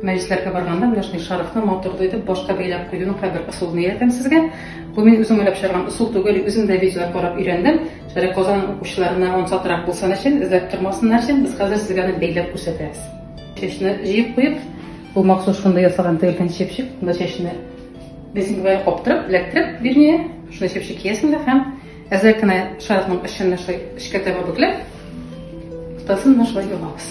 Мәҗлесләргә барганда менә шундый шарфны матурлы итеп башка бәйләп куюның кайбер ысулын өйрәтәм сезгә. Бу мин үзем уйлап чыгарган ысул түгел, үзем дә видеолар карап өйрәндем. Шәрык Казан укучыларына ансатрак булсын өчен, эзләп тормасыннар өчен без хәзер сезгә аны бәйләп күрсәтәбез. Чәчне җыеп куеп, бу махсус шундый ясалган тегелгән чепчик, монда чәчне резинка белән каптырып, эләктереп, вернее, шундый чепчик киясең дә һәм әзрәк кенә шарфның очын шулай эчкә таба бөкләп, уртасын менә шулай ябабыз.